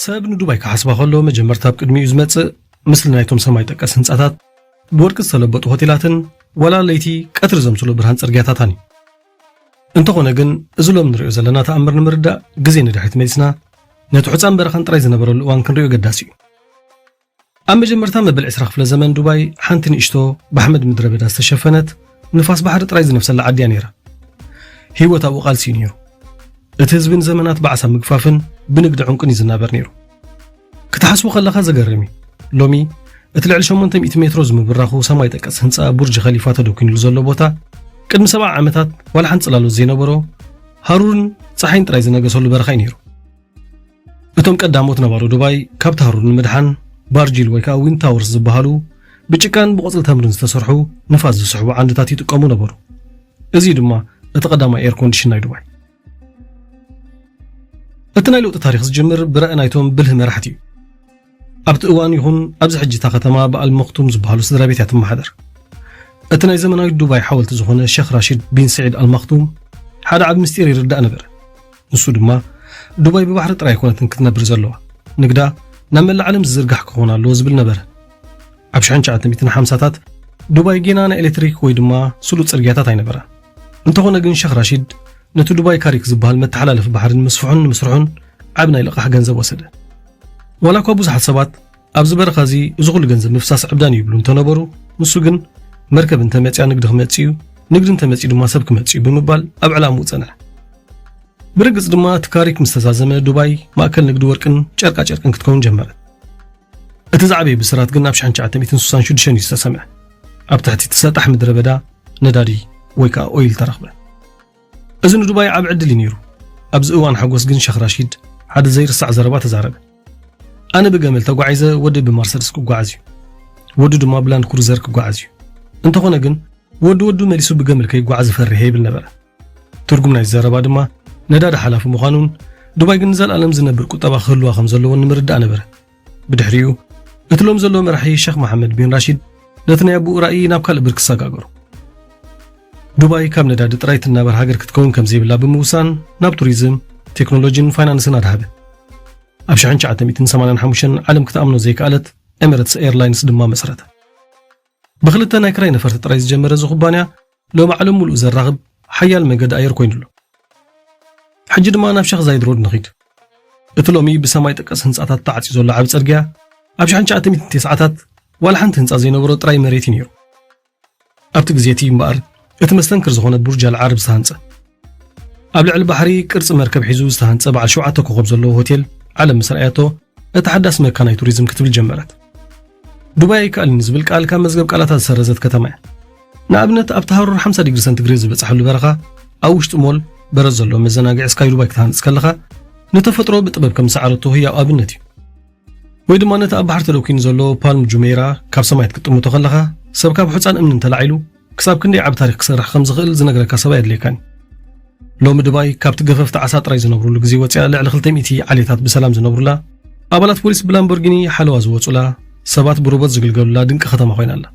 ሰብ ንዱባይ ክሓስባ ከሎ መጀመርታ ኣብ ቅድሚኡ ዝመጽእ ምስሊ ናይቶም ሰማይ ጠቀስ ህንጻታት ብወርቂ ዝተለበጡ ሆቴላትን ዋላ ለይቲ ቀትሪ ዘምስሎ ብርሃን ጽርግያታታን እዩ እንተኾነ ግን እዚ ሎም ንሪኦ ዘለና ተኣምር ንምርዳእ ግዜ ንድሕሪት መሊስና ነቲ ሑፃን በረኻን ጥራይ ዝነበረሉ እዋን ክንሪኦ ኣገዳሲ እዩ። ኣብ መጀመርታ መበል ዕስራ ክፍለ ዘመን ዱባይ ሓንቲ ንእሽቶ ብሓመድ ምድረ በዳ ዝተሸፈነት ንፋስ ባሕሪ ጥራይ ዝነፍሰላ ዓዲ እያ ነይራ። ህይወት ኣብኡ ቃልሲ እዩ ነይሩ። እቲ ህዝቢ ንዘመናት ብዓሳ ምግፋፍን ብንግዲ ዑንቅን እዩ ዝናበር ነይሩ። ክትሓስቡ ከለኻ ዘገርም እዩ። ሎሚ እቲ ልዕሊ ሸሞንተ ሚእቲ ሜትሮ ዝምብራኹ ሰማይ ጠቀስ ህንጻ ቡርጅ ኸሊፋ ተደኲንሉ ዘሎ ቦታ ቅድሚ ሰብዓ ዓመታት ዋላ ሓንቲ ጽላሎት ዘይነበሮ ሃሩርን ጸሓይን ጥራይ ዝነገሰሉ በረኻ እዩ ነይሩ። እቶም ቀዳሞት ነባሮ ዱባይ ካብቲ ሃሩር ንምድሓን ባርጂል ወይ ከዓ ዊን ታወርስ ዝበሃሉ ብጭቃን ብቆፅሊ ተምርን ዝተሰርሑ ንፋስ ዝስሕቡ ዓንድታት ይጥቀሙ ነበሩ። እዚ ድማ እቲ ቀዳማይ ኤር ኮንዲሽን ናይ ዱባይ እቲ ናይ ለውጢ ታሪኽ ዝጅምር ብራኢ ናይቶም ብልህ መራሕቲ እዩ። ኣብቲ እዋን ይኹን ኣብዚ ሕጂ እታ ከተማ ብኣል መክቱም ዝበሃሉ ስድራ ቤት እያ ትመሓደር። እቲ ናይ ዘመናዊት ዱባይ ሓወልቲ ዝኾነ ሸኽ ራሽድ ቢን ስዒድ ኣልማክቱም ሓደ ዓቢ ምስጢር ይርዳእ ነበረ ንሱ ድማ ዱባይ ብባሕሪ ጥራይ ኣይኮነትን ክትነብር ዘለዋ ንግዳ ናብ መላእ ዓለም ዝዝርጋሕ ክኾን ኣለዎ ዝብል ነበረ ኣብ 1950ታት ዱባይ ጌና ናይ ኤሌክትሪክ ወይ ድማ ስሉጥ ጽርግያታት ኣይነበራን እንተኾነ ግን ሸኽ ራሺድ ነቲ ዱባይ ካሪክ ዝበሃል መተሓላለፊ ባሕሪ ንምስፍሑን ንምስርሑን ዓቢ ናይ ልቓሕ ገንዘብ ወሰደ። ዋላ እኳ ብዙሓት ሰባት ኣብዚ በረኻ እዚ እዚ ኩሉ ገንዘብ ምፍሳስ ዕብዳን እዩ ይብሉ እንተነበሩ ንሱ ግን መርከብ እንተመፅያ ንግዲ ክመፅእ እዩ ንግዲ እንተመፅኡ ድማ ሰብ ክመፅእ እዩ ብምባል ኣብ ዕላምኡ ፀንሐ። ብርግጽ ድማ እቲ ካሪክ ምስ ተዛዘመ ዱባይ ማእከል ንግዲ ወርቅን ጨርቃ ጨርቅን ክትከውን ጀመረት። እቲ ዝዓበየ ብስራት ግን ኣብ 1966 እዩ ዝተሰምዐ ኣብ ትሕቲ እቲ ሰጣሕ ምድረ በዳ ነዳዲ ወይ ከዓ ኦይል ተረኽበ እዚ ንዱባይ ዓብ ዕድል እዩ ነይሩ ኣብዚ እዋን ሓጎስ ግን ሸኽ ራሺድ ሓደ ዘይርሳዕ ዘረባ ተዛረበ ኣነ ብገመል ተጓዒዘ ወዲ ብመርሰድስ ክጓዓዝ እዩ ወዱ ድማ ብላንድ ክሩዘር ክጓዓዝ እዩ እንተኾነ ግን ወዲ ወዱ መሊሱ ብገመል ከይጓዓዝ እፈርሔ ይብል ነበረ ትርጉም ናይዚ ዘረባ ድማ ነዳዲ ሓላፊ ምዃኑን ዱባይ ግን ንዘለኣለም ዝነብር ቁጠባ ክህልዋ ከም ዘለዎን ንምርዳእ ነበረ ብድሕሪኡ እቲ ሎም ዘለዎ መራሒ ሸኽ መሓመድ ቢን ራሺድ ነቲ ናይ ኣቦኡ ራእይ ናብ ካልእ ብርኪ ሰጋገሩ ዱባይ ካብ ነዳዲ ጥራይ ትናበር ሃገር ክትከውን ከም ዘይብላ ብምውሳን ናብ ቱሪዝም ቴክኖሎጂን ፋይናንስን ኣድሃበ ኣብ 1985 ዓለም ክትኣምኖ ዘይከኣለት ኤምረትስ ኤርላይንስ ድማ መሰረተ ብክልተ ናይ ክራይ ነፈርቲ ጥራይ ዝጀመረ እዚ ኩባንያ ሎሚ ዓለም ምሉእ ዘራኽብ ሓያል መገዲ ኣየር ኮይኑ ኣሎ። ሕጂ ድማ ናብ ሸኽ ዛይድ ሮድ ንኺድ። እቲ ሎሚ ብሰማይ ጠቀስ ህንጻታት ተዓጽዩ ዘሎ ዓቢ ጽርግያ ኣብ ሽሕን ትሽዓተ ሚእትን ቴስዓታት ዋላ ሓንቲ ህንጻ ዘይነበሮ ጥራይ መሬት እዩ ነይሩ። ኣብቲ ግዜ እቲ እዩ እምበኣር እቲ መስተንክር ዝኾነ ቡርጅ ኣልዓርብ ዝተሃንጸ። ኣብ ልዕሊ ባሕሪ ቅርጺ መርከብ ሒዙ ዝተሃንጸ በዓል ሸውዓተ ኮኾብ ዘለዎ ሆቴል ዓለም ምስ ረኣያቶ እታ ሓዳስ መካናይ ቱሪዝም ክትብል ጀመረት ዱባይ ኣይከኣልን ዝብል ቃል ካብ መዝገብ ቃላታ ዝሰረዘት ከተማ እያ ንኣብነት ኣብቲ ሃሩር 50 ዲግሪ ሰንቲግሬድ ዝበፅሐሉ በረኻ ኣብ ውሽጢ ሞል በረድ ዘለዎ መዘናግዒ ስካይ ዱባይ ክትሃንፅ ከለኻ ንተፈጥሮ ብጥበብ ከም ዝሰዓረቶ ህያው ኣብነት እዩ ወይ ድማ ነቲ ኣብ ባሕሪ ተደኪኑ ዘሎ ፓልም ጁሜራ ካብ ሰማይ ክትጥምቶ ከለኻ ሰብ ካብ ሑፃን እምኒ እንተላዒሉ ክሳብ ክንደይ ዓቢ ታሪኽ ክሰርሕ ከም ዝኽእል ዝነግረካ ሰብ ኣየድልየካን እዩ። ሎሚ ድባይ ካብቲ ገፈፍቲ ዓሳ ጥራይ ዝነብሩሉ ግዜ ወጺኣ ልዕሊ ክልተ ሚእቲ ዓሌታት ብሰላም ዝነብሩላ፣ ኣባላት ፖሊስ ብላምቦርጊኒ ሓለዋ ዝወጹላ፣ ሰባት ብሮቦት ዝግልገሉላ ድንቂ ከተማ ኮይና ኣላ።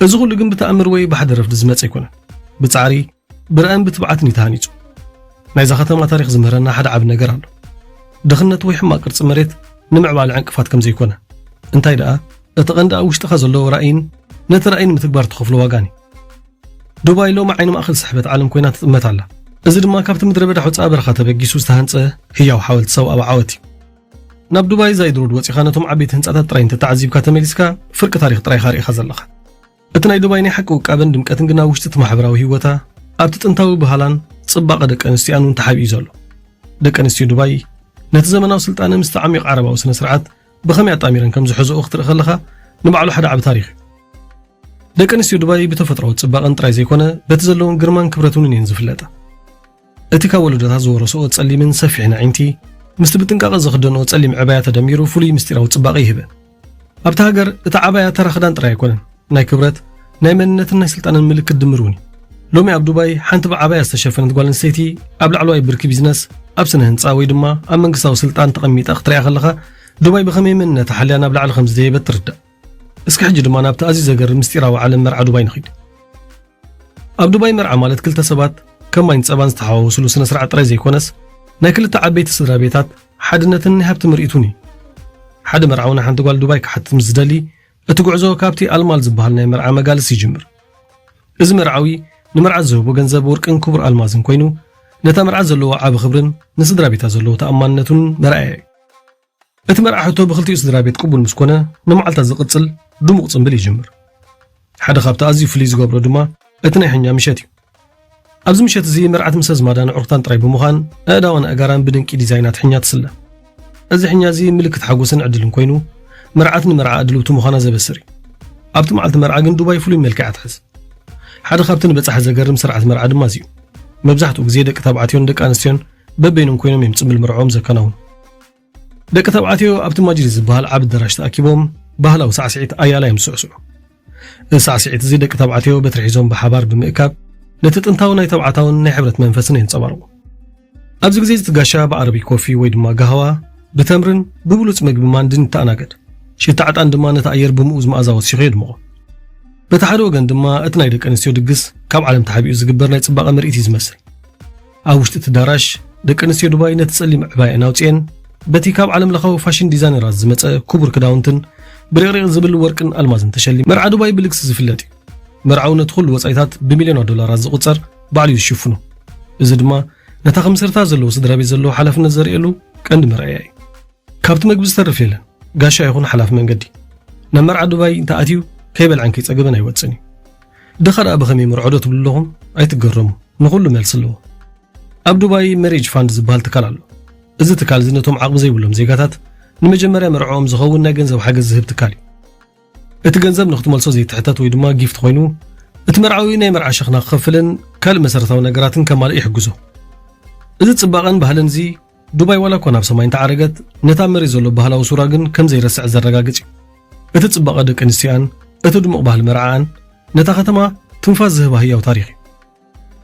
እዚ ኹሉ ግን ብተኣምር ወይ ብሓደ ረፍዲ ዝመጸ ኣይኮነን። ብጻዕሪ፣ ብራእን ብትብዓትን እዩ ተሃኒጹ ናይዛ ከተማ ታሪኽ ዝምህረና ሓደ ዓቢ ነገር ኣሎ ድኽነት ወይ ሕማቅ ቅርጺ መሬት ንምዕባለ ዕንቅፋት ከም ዘይኮነ እንታይ ደኣ እቲ ቀንዲ ኣብ ውሽጥኻ ዘለዎ ራእይን ነቲ ራእይ ንምትግባር ትኸፍሎ ዋጋን እዩ ዱባይ ሎሚ ዓይኒ ማእኸል ስሕበት ዓለም ኮይና ትጥመት ኣላ እዚ ድማ ካብቲ ምድረ በዳ ሑፃ በረኻ ተበጊሱ ዝተሃንፀ ህያው ሓወልቲ ሰብኣዊ ዓወት እዩ ናብ ዱባይ ዛይድ ሮድ ወፂኻ ነቶም ዓበይቲ ህንፃታት ጥራይ እንተተዓዚብካ ተመሊስካ ፍርቂ ታሪክ ጥራይኻ ርኢኻ ዘለኻ እቲ ናይ ዱባይ ናይ ሓቂ ውቃበን ድምቀትን ግን ኣብ ውሽጢ እቲ ማሕበራዊ ህይወታ፣ ኣብቲ ጥንታዊ ባህላን ጽባቐ ደቂ ኣንስትዮኣን እውን ተሓቢኡ ዘሎ። ደቂ ኣንስትዮ ዱባይ ነቲ ዘመናዊ ስልጣነ ምስቲ ዓሚቕ ዓረባዊ ስነ-ስርዓት ብኸመይ ኣጣሚረን ከም ዝሕዝኦ ክትርኢ ከለኻ ንባዕሉ ሓደ ዓቢ ታሪኽ እዩ። ደቂ ኣንስትዮ ዱባይ ብተፈጥሮኣዊ ጽባቐን ጥራይ ዘይኮነ በቲ ዘለወን ግርማን ክብረትንን እየን ዝፍለጣ። እቲ ካብ ወለዶታት ዝወረስኦ ጸሊምን ሰፊሕን ኣዒንቲ፣ ምስቲ ብጥንቃቐ ዝኽደንኦ ጸሊም ዕባያ ተደሚሩ ፍሉይ ምስጢራዊ ጽባቐ ይህበን። ኣብታ ሃገር እቲ ዓባያ ተራ ክዳን ጥራይ ኣይኮነን፣ ናይ ክብረት፣ ናይ መንነትን ናይ ስልጣነን ምልክት ድምር እውን እዩ። ሎሚ ኣብ ዱባይ ሓንቲ ብዓባያ ዝተሸፈነት ጓል ኣንስተይቲ ኣብ ላዕለዋይ ብርኪ ቢዝነስ፣ ኣብ ስነ ህንጻ ወይ ድማ ኣብ መንግስታዊ ስልጣን ተቐሚጣ ክትርኣ ከለኻ ዱባይ ብኸመይ መንነታ ሓልያ ናብ ላዕሊ ከም ዝደየበት ትርዳእ። እስከ ሕጂ ድማ ናብቲ ኣዝዩ ዘገርም ምስጢራዊ ዓለም መርዓ ዱባይ ንኺድ። ኣብ ዱባይ መርዓ ማለት ክልተ ሰባት ከም ማይን ጸባን ዝተሓዋወስሉ ስነ ስርዓት ጥራይ ዘይኮነስ ናይ ክልተ ዓበይቲ ስድራ ቤታት ሓድነትን ናይ ሃብቲ ምርኢቱን እዩ። ሓደ መርዓዊ ንሓንቲ ጓል ዱባይ ክሓትት ምስ ዝደሊ እቲ ጉዕዞ ካብቲ ኣልማል ዝበሃል ናይ መርዓ መጋልስ ይጅምር። እዚ መርዓዊ ንመርዓት ዝህቦ ገንዘብ ወርቅን ክቡር ኣልማዝን ኮይኑ ነታ መርዓት ዘለዎ ዓቢ ክብርን ንስድራ ቤታ ዘለዎ ተኣማንነቱን መርኣያ እዩ። እቲ መርዓ ሕቶ ብኽልቲኡ ስድራቤት ቅቡል ምስ ኮነ፣ ንመዓልታት ዝቕጽል ድሙቕ ጽምብል ይጅምር። ሓደ ካብቲ ኣዝዩ ፍልይ ዝገብሮ ድማ እቲ ናይ ሕኛ ምሸት እዩ። ኣብዚ ምሸት እዚ መርዓት ምስ ኣዝማዳን ኣዕሩኽታን ጥራይ ብምዃን ኣእዳዋን ኣእጋራን ብድንቂ ዲዛይናት ሕኛ ትስለ። እዚ ሕኛ እዚ ምልክት ሓጎስን ዕድልን ኮይኑ፣ መርዓት ንመርዓ ኣድልውቲ ምዃና ዘበስር እዩ። ኣብቲ መዓልቲ መርዓ ግን ዱባይ ፍሉይ መልክዕ እያ ትሕዝ። ሓደ ካብቲ ንበጻሒ ዘገርም ስርዓት መርዓ ድማ እዚ እዩ። መብዛሕትኡ ግዜ ደቂ ተባዕትዮን ደቂ ኣንስትዮን በበይኖም ኮይኖም እዮም ጽምብል መርዕኦም ዘከናውኑ። ደቂ ተባዕትዮ ኣብቲ ማጅሊስ ዝበሃል ዓቢ ኣዳራሽ ተኣኪቦም ባህላዊ ሳዕስዒት ኣያላ እዮም ዝስዕስዑ እዚ ሳዕስዒት እዚ ደቂ ተባዕትዮ በትሪ ሒዞም ብሓባር ብምእካብ ነቲ ጥንታዊ ናይ ተባዕታውን ናይ ሕብረት መንፈስን የንጸባርቑ ኣብዚ ግዜ እዚ ጋሻ ብዓረቢ ኮፊ ወይ ድማ ጋህዋ ብተምርን ብብሉፅ መግቢ ማንድን ይተኣናገድ ሽታ ዕጣን ድማ ነቲ ኣየር ብምኡ ዝመኣዛ ወሲኹ የድምቖ በቲ ሓደ ወገን ድማ እቲ ናይ ደቂ ኣንስትዮ ድግስ ካብ ዓለም ተሓቢኡ ዝግበር ናይ ፅባቐ ምርኢት እዩ ዝመስል ኣብ ውሽጢ እቲ ኣዳራሽ፣ ደቂ ኣንስትዮ ዱባይ ነቲ ጸሊም ዕባየኣን ኣውጺኤን፣ በቲ ካብ ዓለምለኻዊ ፋሽን ዲዛይነራት ዝመጸ ክቡር ክዳውንትን ብሪቕሪቕ ዝብል ወርቅን ኣልማዝን ተሸሊመን። መርዓ ዱባይ ብልግሲ ዝፍለጥ እዩ። መርዓዊ ነቲ ዅሉ ወጻኢታት ብሚልዮናት ዶላራት ዝቝጸር ባዕሉ እዩ ዝሽፍኖ። እዚ ድማ ነታ ከም መሰረታ ዘለዎ ስድራቤት ዘለዎ ሓላፍነት ዘርእየሉ ቀንዲ መርኣያ እዩ። ካብቲ መግቢ ዝተርፍ የለን፣ ጋሻ ይዅን ሓላፊ መንገዲ። ናብ መርዓ ዱባይ እንተ ኣትዩ ከይበልዐን ከይጸገበን ኣይወጽእን እዩ። ድኻ ደኣ ብኸመይ ይምርዖዶ ትብሉ ኣለኹም? ኣይትገረሙ ንኹሉ መልሲ ኣለዎ። ኣብ ዱባይ መሬጅ ፋንድ ዝበሃል ትካል ኣሎ። እዚ ትካል እዚ ነቶም ዓቕሚ ዘይብሎም ዜጋታት ንመጀመርያ መርዕኦም ዝኸውን ናይ ገንዘብ ሓገዝ ዝህብ ትካል እዩ። እቲ ገንዘብ ንኽትመልሶ ዘይትሕተት ወይ ድማ ጊፍት ኮይኑ እቲ መርዓዊ ናይ መርዓ ሸኽና ክኸፍልን ካልእ መሰረታዊ ነገራትን ከማልእ ይሕግዞ። እዚ ጽባቐን ባህልን እዚ ዱባይ ዋላ እኳ ናብ ሰማይ እንተዓረገት፣ ነቲ ኣብ መሬት ዘሎ ባህላዊ ሱራ ግን ከም ዘይረስዐት ዘረጋግጽ እዩ። እቲ ጽባቐ ደቂ ኣንስትዮኣን፣ እቲ ድሙቕ ባህሊ መርዓኣን፣ ነታ ከተማ ትንፋስ ዝህባ ህያው ታሪኽ እዩ።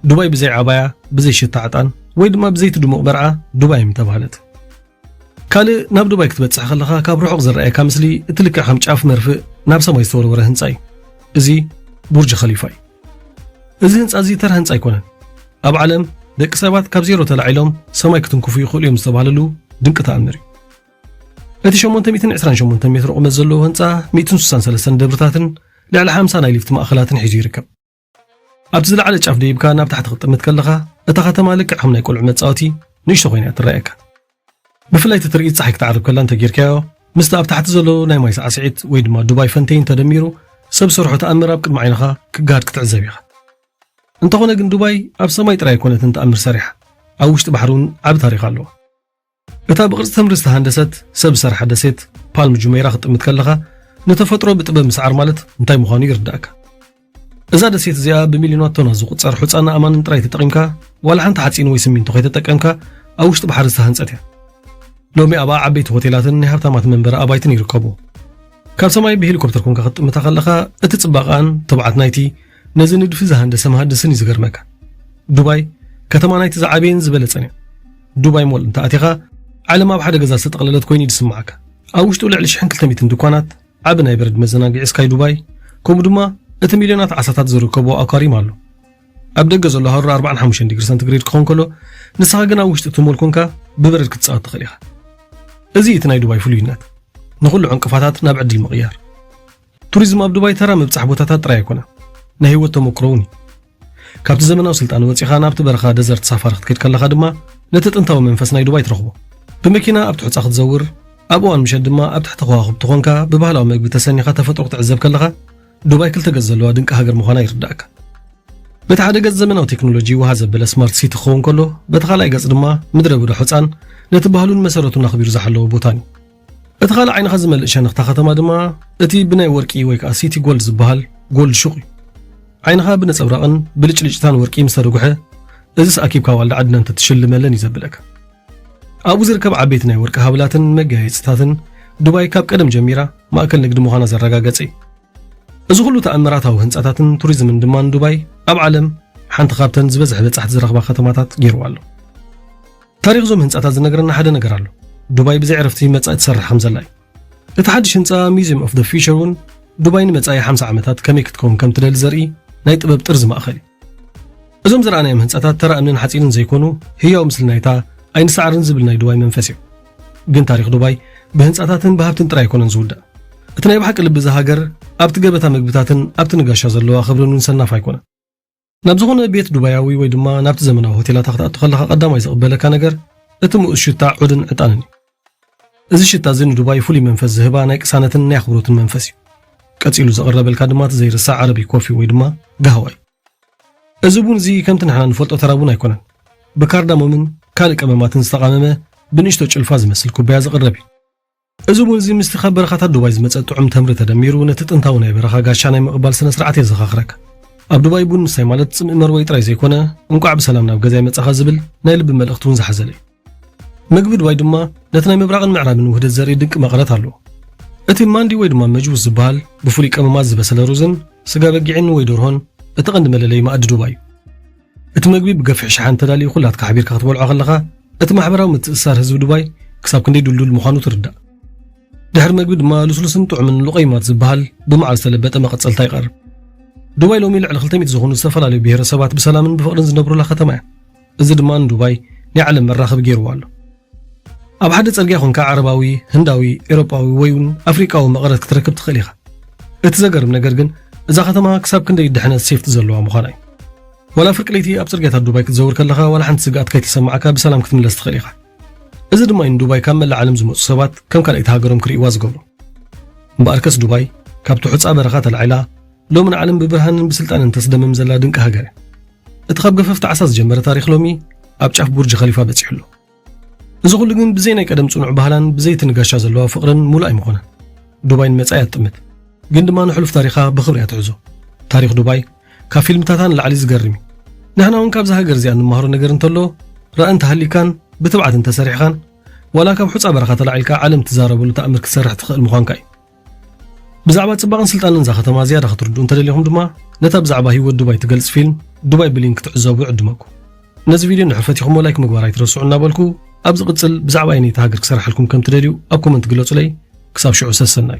ዱባይ ብዘይ ዓባያ፣ ብዘይ ሽታ ዕጣን፣ ወይ ድማ ብዘይቲ ድሙቕ መርዓ ዱባይ ምተባህለት። ካልእ ናብ ዱባይ ክትበጽሕ ከለኻ ካብ ርሑቕ ዝረኣየካ ምስሊ እቲ ልክዕ ከም ጫፍ መርፍእ ናብ ሰማይ ዝተወርወረ ህንጻ እዩ። እዚ ቡርጅ ኸሊፋ እዩ። እዚ ህንፃ እዚ ተራ ህንፃ ኣይኮነን። ኣብ ዓለም ደቂ ሰባት ካብ ዜሮ ተላዒሎም ሰማይ ክትንክፉ ይኽእሉ እዮም ዝተባህለሉ ድንቂ ተኣምር እዩ። እቲ 828 ሜትሮ ቁመት ዘለዎ ህንፃ 163 ደብርታትን ልዕሊ 50 ናይ ሊፍት ማእኸላትን ሒዙ ይርከብ። ኣብቲ ዝለዓለ ጫፍ ደይብካ ናብ ታሕቲ ክትጥምት ከለኻ እታ ከተማ ልክዕ ከም ናይ ቆልዑ መፃወቲ ንእሽቶ ኮይና እያ ትረኣየካ። ብፍላይ እቲ ትርኢት ፀሓይ ክትዓርብ ከላ እንተጌርካዮ ምስቲ ኣብ ታሕቲ ዘሎ ናይ ማይ ሳዕስዒት ወይ ድማ ዱባይ ፈንቴይን ተደሚሩ ሰብ ሰርሖ ተኣምር ኣብ ቅድሚ ዓይንኻ ክገሃድ ክትዕዘብ ኢኻ እንተኾነ ግን ዱባይ ኣብ ሰማይ ጥራይ ኣይኮነትን ተኣምር ሰሪሓ ኣብ ውሽጢ ባሕሪ እውን ዓቢ ታሪኽ ኣለዎ እታ ብቕርጺ ተምሪ ዝተሃንደሰት ሰብ ዝሰርሓ ደሴት ፓልም ጁሜራ ክትጥምት ከለኻ ንተፈጥሮ ብጥበብ ምስዓር ማለት እንታይ ምዃኑ ይርዳእካ እዛ ደሴት እዚኣ ብሚልዮናት ቶናት ዝቝጸር ሑጻን ኣእማንን ጥራይ ተጠቒምካ ዋላ ሓንቲ ሓጺን ወይ ስሚንቶ ከይተጠቀምካ ኣብ ውሽጢ ባሕሪ ዝተሃንጸት እያ ሎሚ ኣብኣ ዓበይቲ ሆቴላትን ናይ ሃብታማት መንበሪ ኣባይትን ይርከቡ ካብ ሰማይ ብሄሊኮፕተር ኮንካ ክትጥምታ ከለኻ እቲ ጽባቐኣን ትብዓት ናይቲ ነዚ ንድፊ ዝሃንደሰ መሃንድስን እዩ ዝገርመካ ዱባይ ከተማ ናይቲ ዝዓበየን ዝበለጸን እያ ዱባይ ሞል እንተ ኣቲኻ ዓለም ኣብ ሓደ ገዛ ዝተጠቕለለት ኮይኑ እዩ ዝስምዓካ ኣብ ውሽጡ ልዕሊ 1200 ድኳናት ዓቢ ናይ በረድ መዘናግዒ ስካይ ዱባይ ከምኡ ድማ እቲ ሚልዮናት ዓሳታት ዝርከቦ ኣኳሪም ኣሎ። ኣብ ደገ ዘሎ ሃሩር ኣርባዓን ሓሙሽተን ዲግሪ ሰንቲግሬድ ክኸውን ከሎ ንስኻ ግን ኣብ ውሽጢ እቲ ሞል ኮንካ ብበረድ ክትጻወት ትኽእል ኢኻ። እዚ እቲ ናይ ዱባይ ፍሉይነት ንኹሉ ዕንቅፋታት ናብ ዕድል ምቕያር። ቱሪዝም ኣብ ዱባይ ተራ ምብጻሕ ቦታታት ጥራይ ኣይኮነን፣ ናይ ህይወት ተመኩሮ እውን እዩ። ካብቲ ዘመናዊ ስልጣነ ወጺኻ ናብቲ በረኻ ደዘርት ሳፋሪ ክትከድ ከለኻ ድማ ነቲ ጥንታዊ መንፈስ ናይ ዱባይ ትረኽቦ። ብመኪና ኣብቲ ሑጻ ክትዘውር፣ ኣብ እዋን ምሸት ድማ ኣብ ትሕቲ ከዋኽብቲ ኾንካ ብባህላዊ መግቢ ተሰኒኻ ተፈጥሮ ክትዕዘብ ከለኻ ዱባይ ክልተ ገጽ ዘለዋ ድንቂ ሃገር ምዃና ይርዳእካ። በቲ ሓደ ገጽ ዘመናዊ ቴክኖሎጂ ውሃ ዘበለ ስማርት ሲቲ ክኸውን ከሎ፣ በቲ ካልኣይ ገጽ ድማ ምድረ ብዳ ሑጻን ነቲ ባህሉን መሰረቱን ኣኽቢሩ ዝሓለወ ቦታን እዩ። እቲ ካልእ ዓይንኻ ዝመልእ ሸነኽታ ከተማ ድማ እቲ ብናይ ወርቂ ወይ ከዓ ሲቲ ጎልድ ዝበሃል ጎልድ ሹቕ እዩ ዓይንኻ ብነጸብራቕን ብልጭልጭታን ወርቂ ምስ ተደጉሐ እዚስ ኣኪብካ ዋልዳ ዓድና እንተትሽልመለን እዩ ዘብለካ ኣብኡ ዝርከብ ዓበይቲ ናይ ወርቂ ሃብላትን መጋየፅታትን ዱባይ ካብ ቀደም ጀሚራ ማእከል ንግዲ ምዃና ዘረጋገጸ እዩ እዚ ኩሉ ተኣምራታዊ ህንፃታትን ቱሪዝምን ድማ ንዱባይ ኣብ ዓለም ሓንቲ ካብተን ዝበዝሐ በጻሕቲ ዝረኽባ ከተማታት ገይርዋ ኣሎ ታሪኽ እዞም ህንጻታት ዝነግረና ሓደ ነገር ኣሎ ዱባይ ብዘይ ዕረፍቲ መጻኢ ትሰርሕ ከም ዘላ እዩ እቲ ሓድሽ ህንጻ ሚዚየም ኦፍ ደ ፊቸር እውን ዱባይ ንመጻኢ 50 ዓመታት ከመይ ክትከውን ከም ትደሊ ዘርኢ ናይ ጥበብ ጥርዚ ማእኸል እዩ እዞም ዝረኣናዮም ህንፃታት ተራ እምንን ሓፂንን ዘይኮኑ ህያው ምስሊ ናይታ ኣይንሰዓርን ዝብል ናይ ዱባይ መንፈስ እዮም ግን ታሪክ ዱባይ ብህንፃታትን ብሃብትን ጥራይ ኣይኮነን ዝውዳእ እቲ ናይ ብሓቂ ልቢ እዚ ሃገር ኣብቲ ገበታ ምግብታትን ኣብቲ ንጋሻ ዘለዋ ክብርን ውን ሰናፍ ኣይኮነን ናብ ዝኾነ ቤት ዱባያዊ ወይ ድማ ናብቲ ዘመናዊ ሆቴላታ ክትኣቱ ከለኻ ቀዳማይ ዝቕበለካ ነገር እቲ ምኡዝ ሽታ ዑድን ዕጣንን እዩ። እዚ ሽታ እዚ ንዱባይ ፍሉይ መንፈስ ዝህባ ናይ ቅሳነትን ናይ ኣኽብሮትን መንፈስ እዩ። ቀጺሉ ዝቕረበልካ ድማ እቲ ዘይርሳዕ ዓረቢ ኮፊ ወይ ድማ ጋህዋ እዩ። እዚ ቡን እዚ ከምቲ ንሕና ንፈልጦ ተራ ቡን ኣይኮነን። ብካርዳሞምን ካልእ ቀመማትን ዝተቓመመ ብንእሽቶ ጭልፋ ዝመስል ኩባያ ዝቕረብ እዩ። እዚ እውን እዚ ምስቲ ካብ በረኻታት ዱባይ ዝመጸ ጥዑም ተምሪ ተደሚሩ ነቲ ጥንታዊ ናይ በረኻ ጋሻ ናይ ምቕባል ስነ ስርዓት የዘኻኽረካ። ኣብ ዱባይ ቡን ምስታይ ማለት ጽምኢ መርወዪ ጥራይ ዘይኮነ፣ እንቋዕ ብሰላም ናብ ገዛይ መጻኻ ዝብል ናይ ልቢ መልእኽቲ እውን ዝሓዘለ እዩ። መግቢ ዱባይ ድማ ነቲ ናይ ምብራቕን ምዕራብን ውህደት ዘርኢ ድንቂ መቐረት ኣለዎ። እቲ ማንዲ ወይ ድማ መጅቡስ ዝበሃል ብፍሉይ ቀመማት ዝበሰለ ሩዝን ስጋ በጊዕን ወይ ደርሆን እቲ ቀንዲ መለለዪ መኣዲ ዱባይ እዩ። እቲ መግቢ ብገፍሒ ሸሓን ተዳልዩ ኩላትካ ሓቢርካ ክትበልዖ ከለኻ፣ እቲ ማሕበራዊ ምትእስሳር ህዝቢ ዱባይ ክሳብ ክንደይ ድልዱል ምዃኑ ትርዳእ። ድሕሪ መግቢ ድማ ልስሉስን ጥዑምን ሉቀይማት ዝበሃል ብመዓር ዝተለበጠ መቐጸልታ ይቐርብ። ዱባይ ሎሚ ልዕሊ ክልተ ሚእቲ ዝኾኑ ዝተፈላለዩ ብሄረሰባት ብሰላምን ብፍቕርን ዝነብሩላ ከተማ እያ። እዚ ድማ ንዱባይ ናይ ዓለም መራኸቢ ገይሩዋ ኣሎ። ኣብ ሓደ ጽርግያ ኾንካ ዓረባዊ፣ ህንዳዊ፣ ኤሮጳዊ ወይ ውን ኣፍሪቃዊ መቐረት ክትረክብ ትኽእል ኢኻ። እቲ ዘገርም ነገር ግን እዛ ከተማ ክሳብ ክንደይ ድሕነት፣ ሴፍቲ፣ ዘለዋ ምዃና እዩ። ዋላ ፍርቂ ለይቲ ኣብ ጽርግያታት ዱባይ ክትዘውር ከለኻ ዋላ ሓንቲ ስግኣት ከይተሰማዓካ ብሰላም ክትምለስ ትኽእል ኢኻ። እዚ ድማ እዩ ንዱባይ ካብ መላእ ዓለም ዝመጹ ሰባት ከም ካልኣይቲ ሃገሮም ክርእይዋ ዝገብሮም። እምበኣርከስ ዱባይ ካብቲ ሑጻ በረኻ ተላዒላ፣ ሎሚ ንዓለም ብብርሃንን ብስልጣንን ተስደምም ዘላ ድንቂ ሃገር እያ። እቲ ካብ ገፈፍቲ ዓሳ ዝጀመረ ታሪኽ ሎሚ ኣብ ጫፍ ቡርጅ ኸሊፋ በጺሑ ኣሎ። እዚ ኩሉ ግን ብዘይ ናይ ቀደም ጽኑዕ ባህላን ብዘይ እቲ ንጋሻ ዘለዋ ፍቕርን ሙሉእ ኣይምኾነን። ዱባይ ንመጻኢ እያ ትጥምት። ግን ድማ ንሕሉፍ ታሪኻ ብኽብሪ እያ ትሕዞ። ታሪኽ ዱባይ ካብ ፊልምታታ ንላዕሊ ዝገርም እዩ። ንሕና እውን ካብዛ ሃገር እዚኣ እንመሃሮ ነገር እንተሎ ራኢ እንተሃልዩካን ብትብዓት እንተሰሪሕኻን ዋላ ካብ ሑጻ በረኻ ተላዒልካ ዓለም ትዛረበሉ ተኣምር ክትሰርሕ ትኽእል ምዃንካ እዩ። ብዛዕባ ጽባቐን ስልጣነን እዛ ከተማ ዝያዳ ክትርድኡ እንተደሊኹም ድማ ነታ ብዛዕባ ህይወት ዱባይ ትገልጽ ፊልም ዱባይ ብሊንክ ክትዕዘቡ ይዕድመኩም። ነዚ ቪድዮ ንሕፈት ኢኹሞ ላይክ ምግባር ኣይትረስዑ እናበልኩ ኣብ ዝቕጽል ብዛዕባ ኣይነይቲ ሃገር ክሰርሓልኩም ከም ትደልዩ ኣብ ኮመንት ግለጹለይ። ክሳብ ሽዑ ሰሰናዩ።